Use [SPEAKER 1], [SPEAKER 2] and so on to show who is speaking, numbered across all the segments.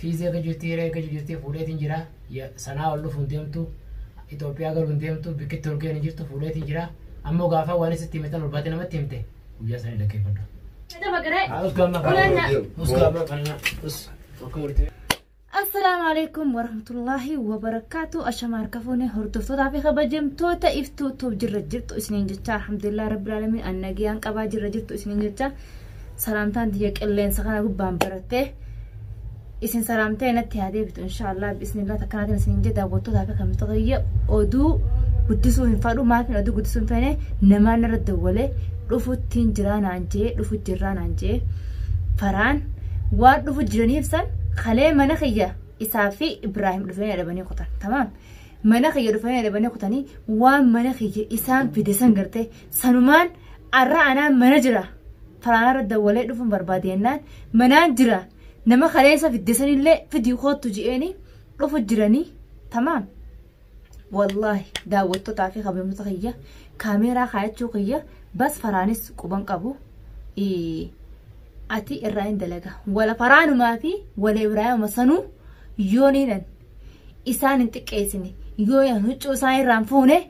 [SPEAKER 1] Fiizii eega jirti hiree eega jirti fuudheetiin jira sanaa ol dhufuun deemtu Itoophiyaa galuun deemtu bikkitti ol ga'een jirtu fuudheetiin jira ammoo gaafa waan isitti himitan ol baatee namatti himte guyyaa sana dhaggeeffadhu.
[SPEAKER 2] Assalaamu alaikum warahmatullaahi wabarakaatu ashamaa harka fuune hordoftootaa fi kabajamtoota iftuu tuuf jirra jirtu isiniin jecha alhamdulillah rabbil alamin annagiyaan qabaa jirra jirtu isiniin jecha salaamtaan tiyya qilleensa kana gubbaan barattee isin salaamtee natti haa deebitu inshaallah bismillah takkanaatiin isin hin jedha daawwattootaa fi kamitota kiyya oduu guddisuu hin fadhu maafin oduu guddisuu hin feene namaan irra dawwalee dhufuttiin jiraa naan jee dhufu jirraa naan jee faraan waan dhufu jiraniif san kalee mana kiyya isaa fi ibraahim dhufanii dhabanii kutan tamaam mana kiyya dhufanii dhabanii kutanii waan mana kiyya isaan fide san gartee Sanumaan arra anaan mana jira. Faraanarra dawwalee dhufuun barbaade jennaan manaan jira. Nama kaleessa fiddesanillee fidii koottu je'eeni dhufu jiranii tamaam. Wallaahi daawwattotaa fi kabajamtoota kiyya kaameeraa kaayachuu kiyya bas faraanis quban qabu. Ati irraa hin dalaga. Wala faraanumaa fi wala Ibraahima sanuu yooniidhan isaan hin xiqqeessine yoo huccuu isaan irraan fuune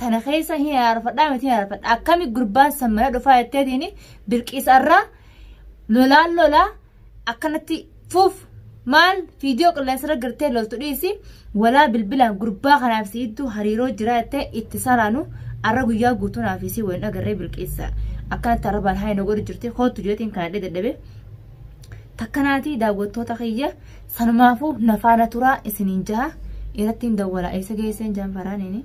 [SPEAKER 2] tana keessa hin araarfadhaa miti hin araarfadha akkami gurbaan san mana dhufaa jetteetiin birqiisarraa lolaan lolaa akkanatti fuuf maal viidiyoo qilleensarra gartee loltu dhiisi walaa bilbilaan gurbaa kanaaf siittuu hariiroo jira jettee itti saraanu arra guyyaa guutuu naaf isii waliin agarree birqiisa akkanatti arrabaan haa hin godhu jirti kootu jeetiin kana dadhabe takkanaatii daawwattoota kiyya sanumaafuu nafaana turaa isiniin jaha irratti hin dawwalaa eessa geesseen jaanfaraaniini.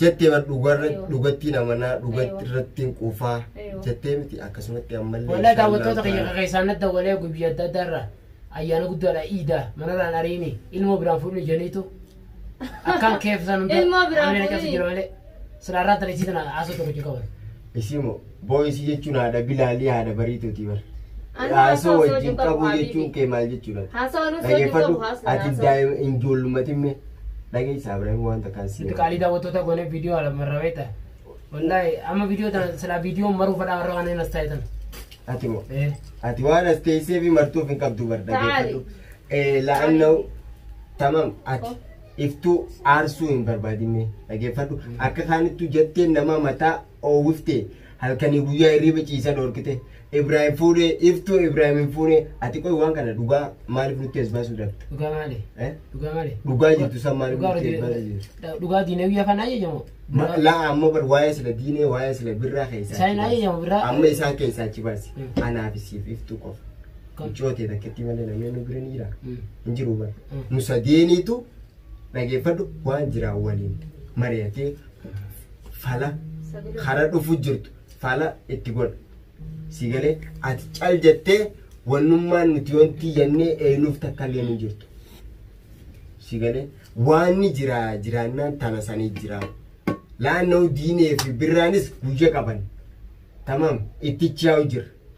[SPEAKER 3] jettee bar dhugarra dhugattiin amanaa dhugatti irrattiin quufaa jettee miti akkasumatti ammallee Wallahi daawwattoota kiyya ta'ala.
[SPEAKER 1] keessaan na dawwalee guyyaa adda addaa irraa ayyaana guddaadha iida manarraan ariini ilmoo biraan fuudhni jeniitu akkaan keeffisan hunda Ilmoo biraan amina keessa fuudhini. jira
[SPEAKER 2] malee
[SPEAKER 1] silaa irraa tana isii tana haasoo tokko jikaban. Isii moo
[SPEAKER 3] Booyisii jechuun haadha Bilaalii haadha Bariituuti bar. Ani Haasoo haasoo wajjin dubbatu qabuu habibi. jechuun kee maal jechuudha? Haasoo nuti hojii qabu Dhageeffadhu haasoo. ati haasoo. daa'ima hin joollumatin mee dhageessaa Ibraahim waan takkaan si Nuti qaalii daawwattoota goonee
[SPEAKER 1] viidiyoo alamarra beekta. Wallaahi amma viidiyoo tana silaa viidiyoo maruu fadhaa warra waan hin as taa'e tana. ati moo
[SPEAKER 3] Eh. ati waan as teessee fi martuuf hin qabdu bar dhageeffadhu. Eh, La'annahu tamam ati Oh. iftuu aarsuu hin barbaadin mee dhageeffadhu akka kaanittu jetteen nama mataa oowwifte, halkanii guyyaa hirriiba ciisa dhoorkite, Ibraahim fuudhe, iftuu Ibraahim hin fuune, ati qoy waan kana dhugaa maaliif nutti as baasuu dhabda? Dhugaa maali? Eh?
[SPEAKER 1] Dhugaa maali? Dhugaa
[SPEAKER 3] jirtu san maaliif Dhugaa nutti as baasuu hojii- jirtu? Dhugaa diinee biyya
[SPEAKER 1] kana ajajamo. Ma- Laa amma bar
[SPEAKER 3] waa'ee sila diinee waa'ee sila birraa keessaa Isaan achi baasi. ajajama, birraa- Amma
[SPEAKER 1] isaan keessaa achi
[SPEAKER 3] baasi. Mm. Anaa fi siif iftuu qofa. Kam? Mucootee takkittii malee namni nu bira ni jira. Mm. Hin jiru bar. Mm. Nu sadeeniitu dhageeffadhu waan jiraa waliin mari'atee fala kara dhufu jirtu fala itti godha. Si galee ati cal jettee wannummaan nuti wanti yannee eenyuuf takka illee hin jirtu. Si galee waanni jiraa jiraannaan tana sanii jiraa. Laannoo diinee fi birraanis guyya qaban. Tamam itti chaa'u jira.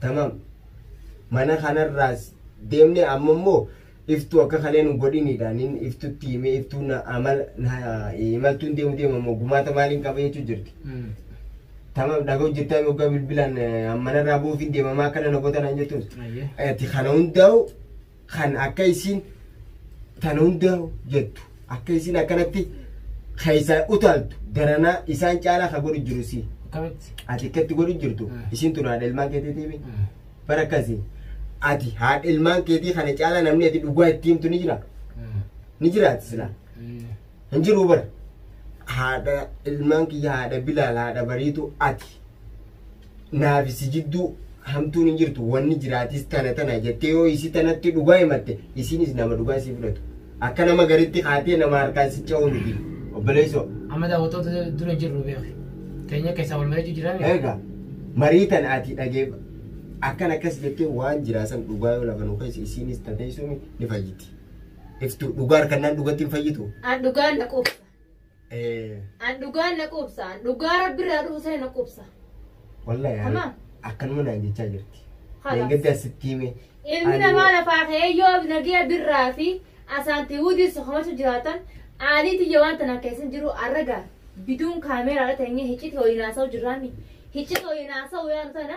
[SPEAKER 3] Tamam. Mana kanarraas deemne amma immoo iftuu akka kalee nu godhinidha. Nin iftutti himee iftuu na amala na imaltuun deemu deema immoo gumaata maaliin qaba jechuu jirti. Tamam dhaga hojjetaa yoggaa bilbilaan eh, manarraa buufiin deemamaa akkana na goota naan jettuus. Ayyee. Ati kana hundaa'u kan akka isiin tan hunda jettu akka isiin akkanatti keessaa utaaltu daranaa isaan caalaa ka godhu jiru si akkamitti ati akkatti godhu jirtu Mm. isiin tun haadha ilmaan keetiitiimi Mm. bara akkasi ati haadha ilmaan keetii kana caalaa namni ati dhugaa itti himtu ni jira Mm. ni jiraati silaa Mm. hin jiru bara haadha ilmaan kiyya haadha bilaal haadha bariitu ati naafi si jidduu hamtuun hin jirtu wanni jiraatis tana tana jettee yoo isii tanatti dhugaa himatte isiinis nama dhugaa isii fudhatu akka nama garitti kaatee nama harkaan si ca'uu miti obboleessoo Amma daawwattoota
[SPEAKER 1] dura jirru beeku.
[SPEAKER 3] Keenya
[SPEAKER 1] keessaa wal
[SPEAKER 3] mari'achuu
[SPEAKER 1] jiraan. egaa marii tan
[SPEAKER 3] ati
[SPEAKER 1] dhagee akkan
[SPEAKER 3] akkas jettee waan jiraasan dhugaa yoo lafa nu keessa isiinis tatee sun ni fayyiti. Iftu dhugaa harkannaan dhugatti hin fayyitu. An dhugaan dhaquu
[SPEAKER 2] qaba. An dhugaan na quubsa. An dhugaa rabbi irraa dhufu sana na quubsa. Wallahi yaa Tamam.
[SPEAKER 3] akkanuma naan jechaa jirti. Halas. Deengaddaa
[SPEAKER 2] sitti hime.
[SPEAKER 3] Ilmi Ani- namaa lafaa
[SPEAKER 2] ka'ee yoo nagaya birraa fi asaantii wudiin sokomatu jiraatan aalii tiyya waan tanaa keessa hin jiru arraga biduun kaameeraadha teenyee hicciti ho'iin haasa'u jirraami. Hicciti ho'iin haasa'u yaanu tana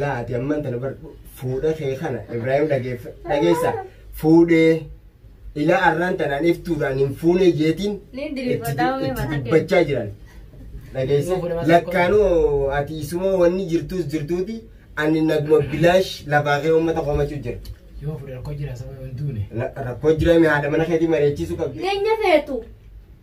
[SPEAKER 3] Laa ati amman tana bar fuudha kee kana Ibrahim dhageeffa dhageessa fuudhee ilaa arraan tanaan iftuudhaan hin fuunee jeetiin Ni itti diriirfadhaa mee itti mataa dubbachaa jiran dhageessa Yoo fuudhe mataa lakkaanuu ati isuma wanni jirtuus jirtuuti ani naguma bilaash lafaa kee uummata komachuu jira Yoo fuudhe rakkoo jira
[SPEAKER 1] sababa hin duune. La- rakkoo jiraame
[SPEAKER 3] haadha mana keetii mari'achiisuu qabdi Nyaanya feetu.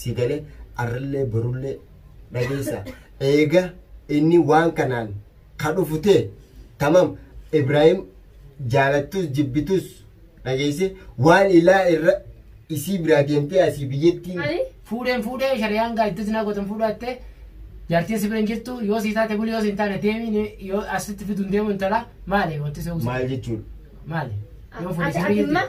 [SPEAKER 3] si galee arrillee borullee dhageessa eega inni waan kanaan ka dhufu ta'e tamam ibraahim jaalattus jibbitus dhageesse waan ilaa irra isii biraa deemtee asii biyyattii Ani fuudheen fuudhee
[SPEAKER 1] shari'aan gaa iddoo sinaa gootan fuudhaatte jaartiin si bira hin jirtu yoo si taate buli yoo si hin taane deemi ni- yoo asitti fiduun deemu intala maali wanti si hawwisa maal jechuudha
[SPEAKER 3] maali
[SPEAKER 1] yoo fuudhee si bira ati
[SPEAKER 2] jirtu. amma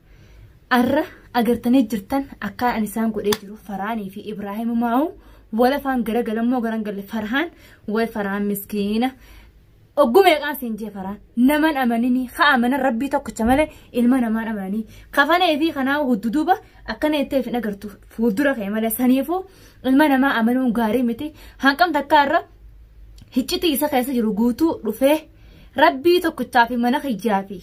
[SPEAKER 2] Arra agartanii jirtan akkaan ani isaan godhee jiru Faraanii fi Ibraahim Maa'u wal afaan garagalammoo garan galle Farhaan way Farhaan miskiina. Ogguma eeqaan siin jee Farhaan naman amanini ha amana rabbii tokkicha malee ilma namaan amananii kafanee fi kanaa hudduduuba akkana jettee hin agartu fuuldura kee malee saniifuu ilma namaa amanuun gaarii miti hanqamta akka irra hiccitii isa keessa jiru guutuu dhufee rabbii tokkichaa fi mana kiyyaa fi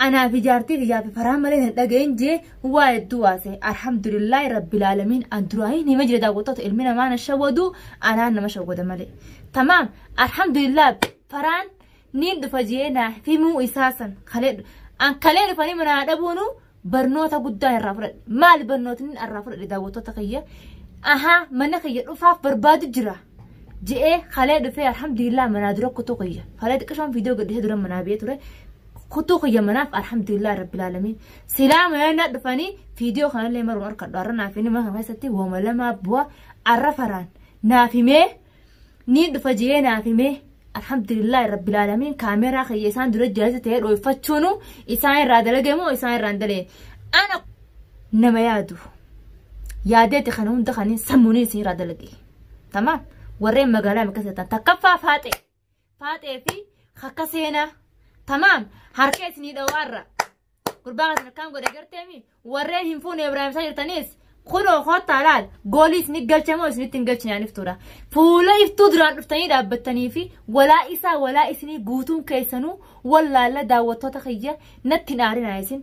[SPEAKER 2] Anaa fi jaartii kiyyaa fi faraa malee hin dhaga'in jee waa hedduu waase. Alhamdulillah rabbil aalamiin an duraahin hima jira daawwattoota ilmi namaa na shawwadu anaan nama shawwada malee. Tamaam alhamdulillah faraan niin dhufa jee naa himuu isaa san kalee an kalee dhufanii manaa dhabuunu barnoota guddaa irraa fudhadhe. Maal barnootni irraa fudhadhe daawwattoota kiyya? Ahaa mana kiyya dhufaaf barbaadu jira. je'ee kalee dhufee alhamdulillah manaa dura kutuu kiyya kalee xiqqishoon viidiyoo gadhiisee dura manaa biyya ture kutuu kiyya manaaf alhamdulillah rabbil aalamiin silaa manaa dhufanii viidiyoo kanallee maruun harkadhu har'a naaf inni mana kana keessatti wama lamaa bu'a har'a faraan naaf himee ni dhufa je'ee naaf himee alhamdulillah rabbil aalamiin kaameeraa kiyya isaan dura jaalatti ta'ee dhooyfachuunu isaan irraa dalagee moo isaan irraa hin dalee ana nama yaadu yaadeeti kana hunda kanin sammuuniin isin irraa dalagee. Tamaam. Warreen magaalaa bakka seetan takkaffaa faaxee. Faaxee fi akka seenaa. Tamaam. Harka isinii dhawaarra. Gurbaa kana akkaan godhe garteemi. Warreen hin fuune Ibraahimsaa jirtanis kunoo kottaa laal goolii isin galchamoo isinitti hin galchinaan iftuudha. Fuula iftuu duraan dhuftanii dhaabbattanii fi walaa isaa walaa isinii guutuun keessanuu wallaalla daawwattoota kiyya natti hin aarinaa isin.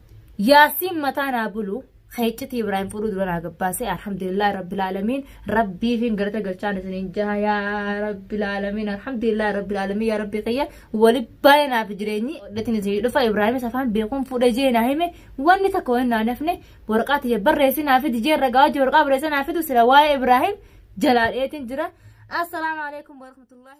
[SPEAKER 2] yaasiin mataa naa bulu keecciti ibraahim fudhuu dura naa gabbaase alhamdulillah rabbil aalamiin rabbiifiin galata galchaan isiniin jaha yaa rabbil aalamiin alhamdulillah rabbil aalamiin yaa rabbii kiyya wali baay'ee naaf jireenyi dhatin isinii dhufa ibraahimis afaan beekuun fuudha jee naa hime wanni takka waan naa nafne warqaa tiyya barreessi naa fidi jee ragaa wajji warqaa barreessi naa fidu sila waa'ee ibraahim jalaadheetiin jira assalaamu alaikum warahmatullahi